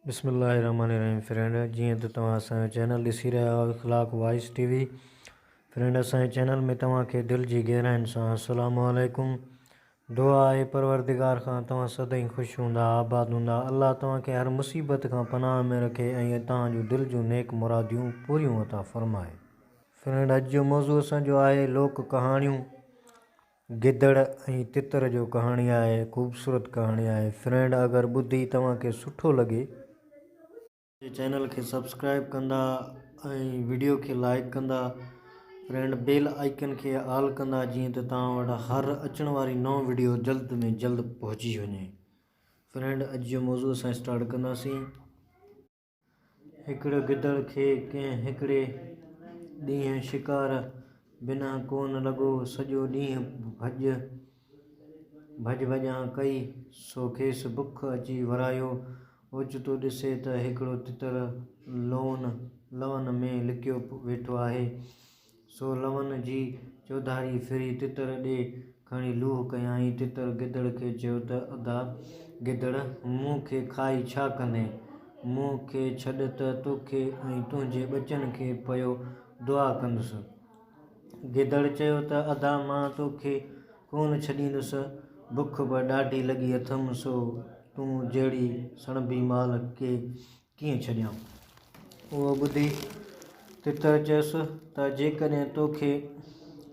بسم الله الرحمٰن الرحيم فرينڊ جيئن ته توهان اسان جو چينل ڏسي رهيا آهيو Akhlaq voice T V friend اسان جي چينل ۾ توهان کي دل جي گهراين سان السلام عليڪم دعا آهي پروردگار کان توهان سدائين خوش هوندا آباد هوندا الله توهان کي هر مصيبت کان پناهه ۾ رکي ۽ توهان جون دل جون نيڪ مراديون پوريون عطا فرمائي فرينڊ اڄ جو موضوع اسان جو آهي لوڪ ڪهاڻيون گدڙ ۽ تتر جو ڪهاڻي آهي خوبصورت ڪهاڻي آهي فرينڊ اگر ٻڌي توهان کي سٺو لڳي. منهنجي چينل کي سبسڪرائب ڪندا ۽ وڊيو کي لائڪ ڪندا فرينڊ بيل آئيڪن کي آل ڪندا جيئن ته توهان وٽ هر اچڻ واري نئون وڊيو جلد ۾ جلد پهچي وڃي فرينڊ اڄ جو موضوع اسان اسٽارٽ ڪنداسين. هڪڙي گدڙ کي ڪنهن هڪڙي ڏينهن شڪار بنا ڪونه لڳو، سڄو ڏينهن ڀڄ ڀڄ ڀڄان ڪئي، سو کيس بک اچي ورايو، اوچتو ڏسي ته هڪڙو تتر لون لون ۾ لڪيو ويٺو آهي، سو لونء جي چوڌاري ڦري تتر ڏي کڻي لوهه ڪيائين. تتر گدڙ کي چيو ته ادا گدڙ، مون کي کائي ڇا ڪندين؟ مون کي ڇڏ ته توکي ۽ تنهنجي ٻچن کي پيو دعا ڪندس. گدڙ چيو ته ادا مان توکي ڪونه ڇڏيندس، بک به ڏاڍي لڳي اٿم، سو تون جهڙي سڻڀي مال کي ڪيئن ڇڏيان؟ اهو ٻڌي تتر چيس ته جيڪڏهن تو کي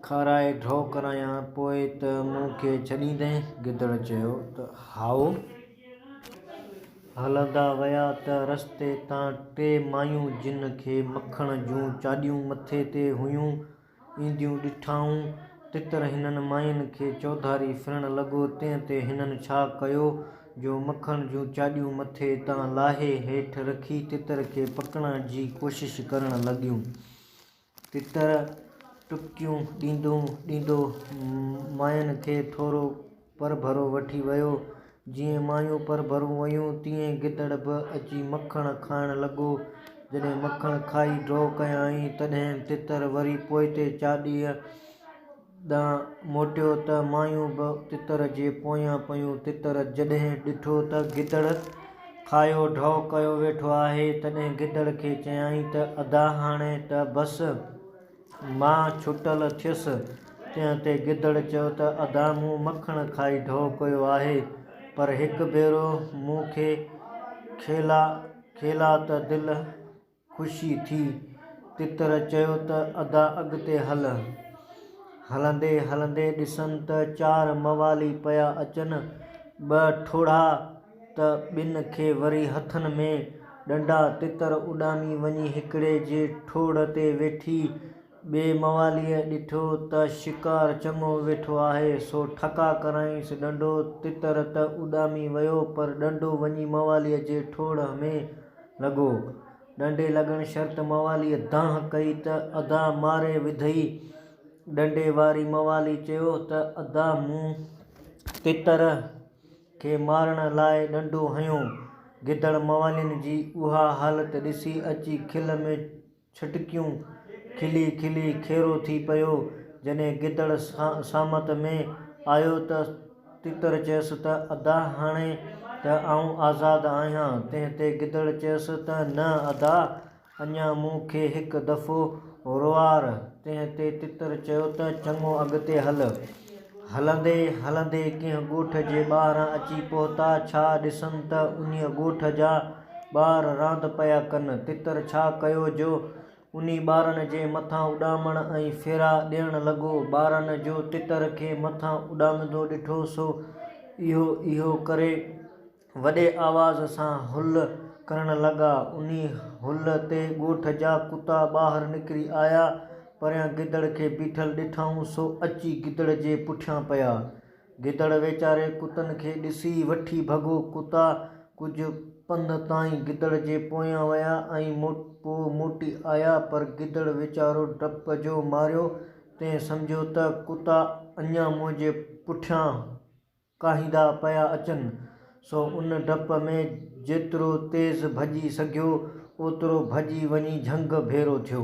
کارائي ڍؤ ڪرايان پوء ته مون کي ڇڏيندين؟ گدڙ چيو ته هائو. هلندا ويا ته رستي تان ٽي مايون جن کي مکڻ جون چاڏيون مٿي تي هيون، اينديون ڏٺائون، تتر هنن ماين کي چوڌاري ڦرڻ لڳو، تنهن تي هنن ڇا ڪيو جو مکڻ جون چاڏيون مٿي تان لاهي هيٺ رکي تتر کي پڪڙڻ جي ڪوشش ڪرڻ لڳيون. تتر ٽپڪيون ڏيندو ڏيندو ماين کي ٿورو پرڀرو وٺي ويو. جيئن مايون پرڀرون ويون تيئن گدڙ به اچي مکڻ کائڻ لڳو. جڏهن مکڻ کائي ڍو ڪيائين تڏهن تتر وري پوئتي چاڏيء ڏانهن موٽيو ته مايون به تتر جي پويان پيون. تتر جڏهن ڏٺو ته گدڙ کايو ڍو ڪيو ويٺو آهي تڏهن گدڙ کي چيائين ته ادا هاڻي ته بس! مان ڇٽل ٿيس، تنهن تي گدڙ چيو ته ادا مون مکڻ کائي ڍؤ ڪيو آهي، پر هڪ ڀيرو مون کي کيلا کيلا ته دل خوشي ٿي. تتر چيو ته ادا اڳتي هل. هلندي هلندي ڏسن ته چار موالي پيا اچن، ٻه ٺوڙها. ته ٻن کي وري هٿن ۾ ڏنڊا تتر اڏامي وڃي هڪڙي جي ٺوڙهه تي ويٺي ٻئي مواليء ڏٺو ته شڪار چڱو ويٺو آهي سو ٺڪا ڪرايئنس ڏنڊو تتر ته اڏامي ويو پر ڏنڊو وڃي مواليء جي ٺوڙهه ۾ لڳو ڏنڊي لڳڻ شرط مواليء دانهن ڪئي ته ادا ماري وڌئي ڏنڊي واري موالي چيو ته ادا مون تتر کي مارڻ لاء ڏنڊو هنيو. گدڙ موالين جي اها حالت ڏسي اچي کل ۾ ڇٽڪيون کلي کلي کيرو ٿي پيو. جڏهن گدڙ سامت ۾ آيو ته تيتر چيس ته ادا هاڻي ته آئون آزاد آهيان. تنهن تي گدڙ چيس ته نه ادا! اڃا مون کي هڪ دفعو روئار، تنهن تي تتر چيو ته چڱو اڳتي هل. هلندي هلندي ڪنهن ڳوٺ جي ٻاهران اچي پهتا، ڇا ڏسن ته انهيء ڳوٺ جا ٻار راند پيا ڪن. تتر ڇا ڪيو جو انهي ٻارن جي مٿان اڏامڻ ۽ ڦيرا ڏيڻ لڳو. ٻارن جو تتر کي مٿان اڏامندو ڏٺو سو اهو اهو ڪري. وڏي آواز سان هل ڪرڻ لڳا. انهي هل تي ڳوٺ جا ڪتا ٻاهر نڪري آيا. پريان گدڙ کي بيٺل ڏٺائون سو اچي گدڙ جي پٺيان پيا. گدڙ ويچاري ڪتن کي ڏسي وٺي ڀڳو. ڪتا ڪجهه پنڌ تائين گدڙ جي پويان ويا ۽ پوء موٽي آيا پر گدڙ ويچارو ڊپ جو ماريو تنهن سمجهيو ته ڪتا اڃان منهنجي پٺيان ڪاهيندا پيا اچن، سو ان ڊپ ۾ جيترو تيز ڀڄي سگهيو، اوترو ڀڄي وڃي جهنگ ڀيرو ٿيو.